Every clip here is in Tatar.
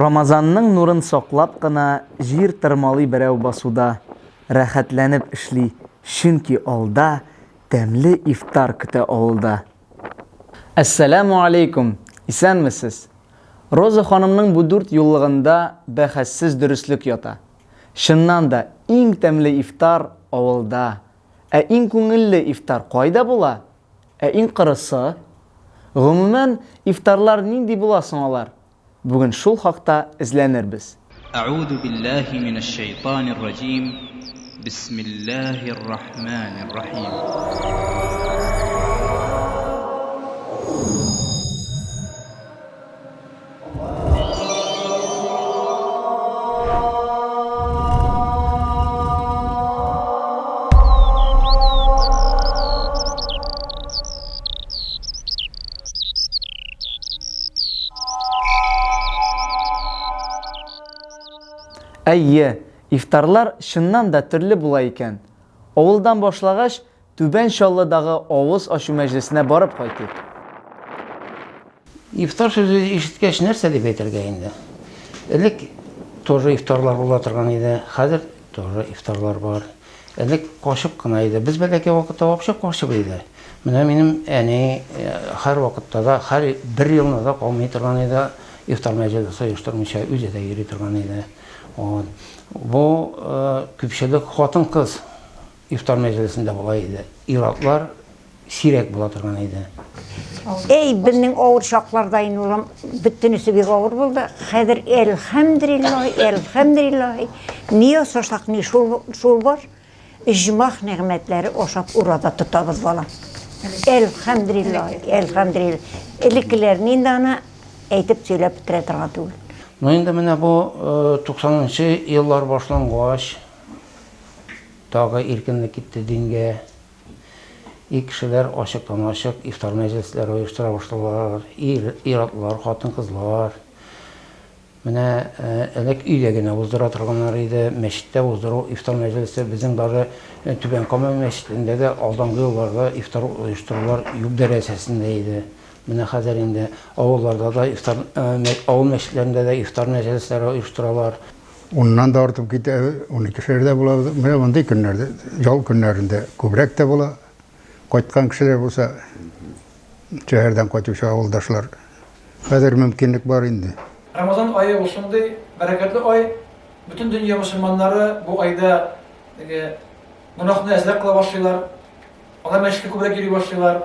Рамазанның нурын саклап кына җир тырмалый берәү басуда, рәхәтләнеп эшли, чөнки алда тәмле ифтар көтә авылда. Әссәләмү алейкум! Исәнмесез! Роза ханымның бу дүрт юллыгында бәхәссез дөреслек ята. Чыннан да, иң тәмле ифтар, авылда. Ә иң күңелле ифтар кайда була? Ә иң кырысы, гомумән, ифтарлар нинди була соң алар? Бүген шул хакта эзләнербез. Әгъузу билләһи минәш шәйтанир раҗим, бисмилләһир рахманир рахим. Әйе, ифтарлар чыннан да төрле була икән. Авылдан башлагач, Түбән Чаллыдагы авыз ачу мәҗлесенә барып кайтыйк. Ифтар сүзе ишеткәч, нәрсә дип әйтергә инде? Элек тоже ифтарлар була торган иде, хәзер тоже ифтарлар бар. Элек качып кына иде. Без бәләкәй вакытта вообще качып иде. Менә минем әни э, һәр вакытта да, һәр бер елны да калмый торган иде, ифтар мәҗлесе оештырмыйча үзе дә йөри торган иде. Вот. Бу э, күпчелек хатын-кыз Ифтар мәҗлесендә болай иде, ир-атлар сирәк була торган иде. Әй, безнең авыр чакларда инде улым, бөтенесе бик авыр булды. Хәзер әлхәмдүлиллаһи, әлхәмдүлиллаһи, ни ясасак, ни шул, шул бар. Иҗмах нигъмәтләре ашап ураза тотабыз, балам. Әлхәмдүлиллаһи, әлхәмдүлиллаһи. Элеккеләрне инде аны әйтеп сөйләп бетерә торган түгел. Ну инде менә бу 90 нчы еллар башлангач, Тагы иркенлек китте дингә. И кешеләр ачыктан-ачык ифтар мәҗлесләре оештыра башладылар. Ир-атлар, хатын-кызлар. Менә элек өйдә генә уздыра торганнар иде. Мәчеттә уздыру ифтар мәҗлесе безнең даже Түбән Кама мәчетендә дә алдынгы елларда ифтар оештырулар юк дәрәҗәсендә иде. Менә хәзер инде авылларда да ифтар, авыл мәчетләрендә дә ифтар мәҗлесләре оештыралар. Уннан да артып китә, уникешәр дә була. Менә мондый көннәрдә, ял көннәрендә күбрәк тә була. Кайткан кешеләр булса, шәһәрдән кайтучы авылдашлар. Хәзер мөмкинлек бар инде. Рамазан ае ул шундый бәрәкәтле ай. Бөтен дөнья мөселманнары бу айда теге гөнаһны әзрәк кыла башлыйлар. Алар мәчеткә күбрәк йөри башлыйлар.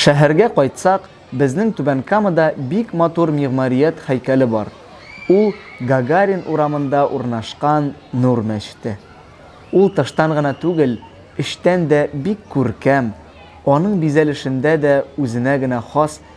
Шәһәргә кайтсак, безнең Түбән Камада бик матур мигъмарият һәйкәле бар. Ул Гагарин урамында урнашкан Нур мәчете. Ул тыштан гына түгел, эчтән дә бик күркәм, аның бизәлешендә дә үзенә генә хас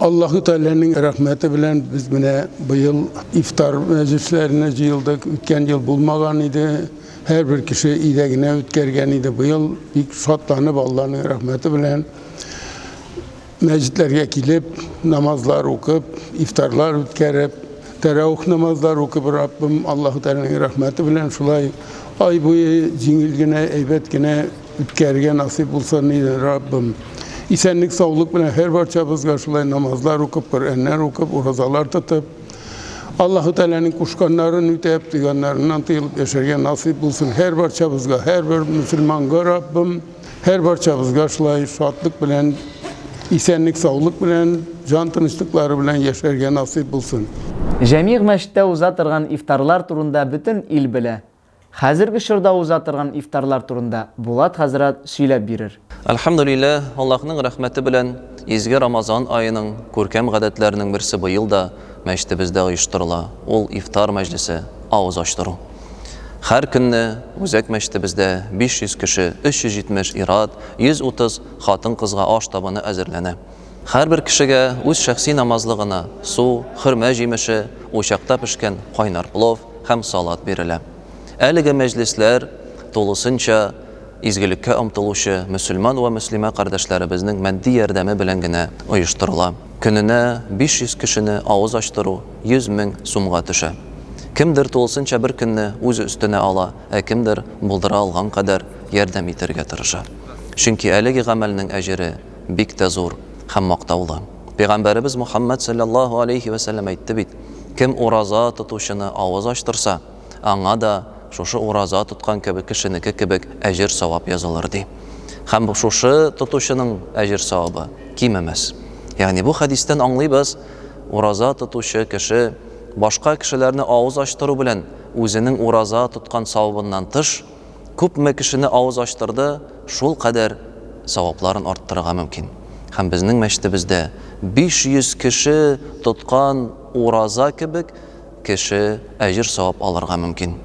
Аллаһу Тәгаләнең рәхмәте белән без менә быел ифтар мәҗлесләренә җыелдык. Үткән ел булмаган иде. Һәрбер кеше өйдә генә үткәргән иде. Быел бик шатланып Аллаһның рәхмәте белән мәҗлесләргә килеп, намазлар укып, ифтарлар үткәреп, тәрәвих намазлар укып Раббым Аллаһу Тәгаләнең рәхмәте белән шулай ай буе җиңел генә, әйбәт генә Үткәрергә насыйп булсын иде, Раббым. Исәнлек-саулык белән һәр барчабызга шулай намазлар укып, Коръәннәр укып, уразалар тотып, Аллаһу Тәгаләнең кушканнарын үтәп, тыйганнарыннан тыелып яшәргә насыйп булсын һәр барчабызга, һәрбер мөселманга, Раббым. Һәр барчабызга шулай шатлык белән, исәнлек-саулык белән, җан тынычлыклары белән яшәргә насыйп булсын. Җәмигъ мәчеттә уза торган ифтарлар турында бөтен ил белә. Хәзерге чорда уза торган ифтарлар турында Булат хәзрәт сөйләп бирер. Әлхәмдүлилләһ, Аллаһның рәхмәте белән, изге Рамазан аеның күркәм гадәтләренең берсе быел да мәчетебездә оештырыла, ул ифтар мәҗлесе, авыз ачтыру. Һәр көнне үзәк мәчетебездә 500 кеше, 370 ир-ат, 130 хатын-кызга аш табыны әзерләнә. Һәрбер кешегә үз шәхси намазлы гына су, хөрмә җимеше, учакта пешкән кайнар плов һәм салат бирелә. Әлеге мәҗлесләр тулысынча изгелеккә омтылучы мөселман вә мөслимә кардәшләребезнең матди ярдәме белән генә оештырыла. Көненә 500 кешене авыз ачтыру 100 мең сумга төшә. Кемдер тулысынча бер көнне үз өстенә ала, ә кемдер булдыра алган кадәр ярдәм итәргә тырыша. Чөнки әлеге гамәлнең әҗере бик тә зур һәм мактаулы. Пәйгамбәребез Мухаммәд салләллаһу алейһи вә сәлләм әйтте бит, Кем ураза тотучыны авыз ачтырса, аңа да шушы ураза тоткан кебек кешенеке кебек әҗер-савап язылыр, ди. Һәм шушы тотучының әҗер-савабы кимемәс. Ягъни бу хәдистән аңлыйбыз, ураза тотучы кеше башка кешеләрне авыз ачтыру белән үзенең ураза тоткан савабыннан тыш, күпме кешене авыз ачтырды, шул кадәр савапларын арттырырга мөмкин. Һәм безнең мәчетебездә 500 кеше тоткан ураза кебек кеше әҗер-савап алырга мөмкин.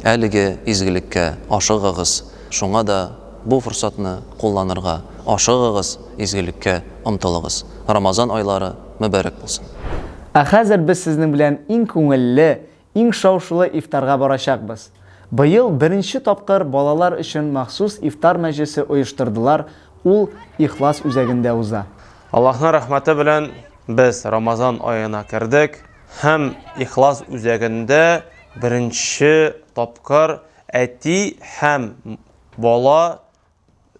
Әлеге изгелеккә ашыгыгыз, шуңа да бу форсатны кулланырга ашыгыгыз, изгелеккә омтылыгыз. Рамазан айлары мөбарәк булсын! Ә хәзер без сезнең белән иң күңелле, Иң шау-шулы ифтарга барачакбыз. Быел беренче тапкыр балалар өчен махсус ифтар мәҗлесе оештырдылар, ул Ихлас үзәгендә уза. Аллаһның рәхмәте белән без Рамазан аена кердек һәм Ихлас үзәгендә беренче тапкыр әти һәм бала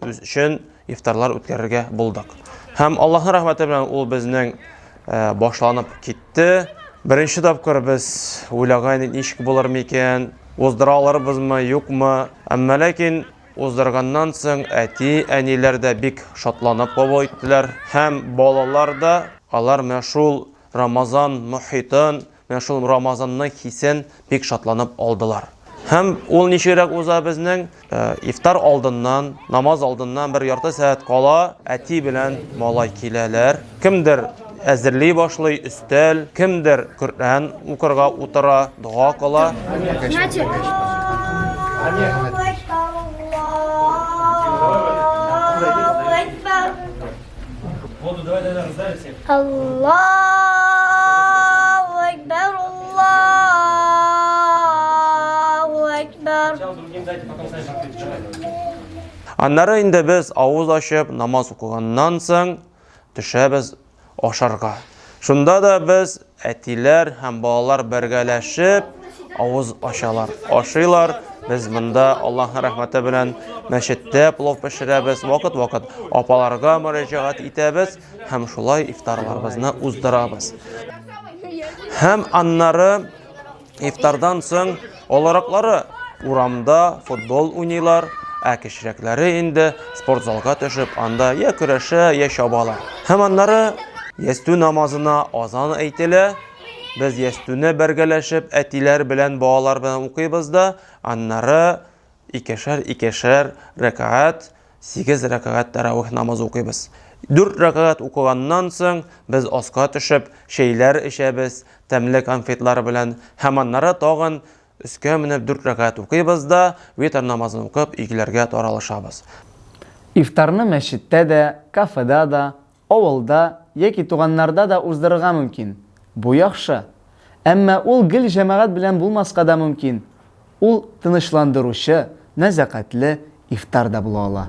үз өчен ифтарлар үткәрергә булдык. Һәм Аллаһның рәхмәте белән ул безнең э, башланып китте. Беренче тапкыр без уйлаган идек, ничек булыр микән, уздыра алырбызмы, юкмы. Әмма ләкин уздырганнан соң әти, әниләр дә бик шатланып кабул иттеләр һәм балалар да алар менә шул Рамазан мохитын, Менә шул Рамазанның хисен бик шатланып алдылар. Һәм ул ничегрәк уза безнең? Э, ифтар алдыннан, намаз алдыннан бер ярты сәгать кала әти белән малай киләләр. Кемдер әзерли башлый, өстәл, кемдер Коръән укырга утыра, дога кыла. Аллаху Акбар, Аллаху Акбар. Аннары инде без авыз ачып намаз укыганнан соң төшәбез ашарга. Шунда да без Әтиләр һәм балалар бергәләшеп авыз ачалар, ашыйлар. Без монда Аллаһның рәхмәте белән мәчеттә плов пешерәбез, вакыт-вакыт апаларга мөрәҗәгать итәбез һәм шулай ифтарларыбызны уздырабыз. Һәм аннары Ифтардан соң олыраклары урамда футбол уйныйлар, ә кечерәкләре инде спортзалга төшеп, анда я көрәшә, я чабала. Һәм аннары ястү намазына азан әйтелә. Без ястүне бергәләшеп әтиләр белән балалар белән укыйбыз да, аннары Икешәр-икешәр рәкәгать, сигез рәкәгать тәравих намазы укыйбыз. Дүрт рәкәгать укыганнан соң, без аска төшеп, чәйләр эчәбез, тәмле конфетлар белән, һәм аннары тагын өскә менеп дүрт рәкәгать укыйбыз да, витр намазын укып, өйләргә таралышабыз. Ифтарны мәчеттә дә, кафеда да, Авылда яки туганнарда да уздырырга мөмкин. Бу яхшы. Әмма ул гел җәмәгать белән булмаска да мөмкин. Ул тынычландыручы, нәзакәтле ифтар да була ала.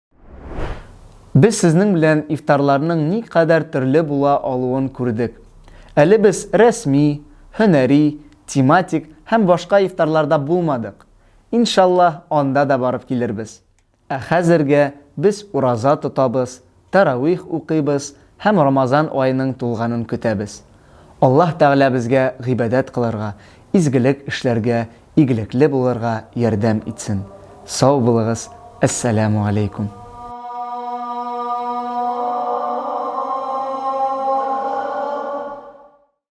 Без сезнең белән ифтарларның ни кадәр төрле була алуын күрдек. Әле без рәсми, һөнәри, тематик һәм башка ифтарларда булмадык. Иншаллаһ, анда да барып килербез. Ә хәзергә без ураза тотабыз, тәравих укыйбыз, Һәм Рамазан аеның тулганын көтәбез. Аллаһ Тәгалә безгә гыйбадәт кылырга, изгелек эшләргә, игелекле булырга ярдәм итсен. Сау булыгыз, Әссәләмү аләйкүм.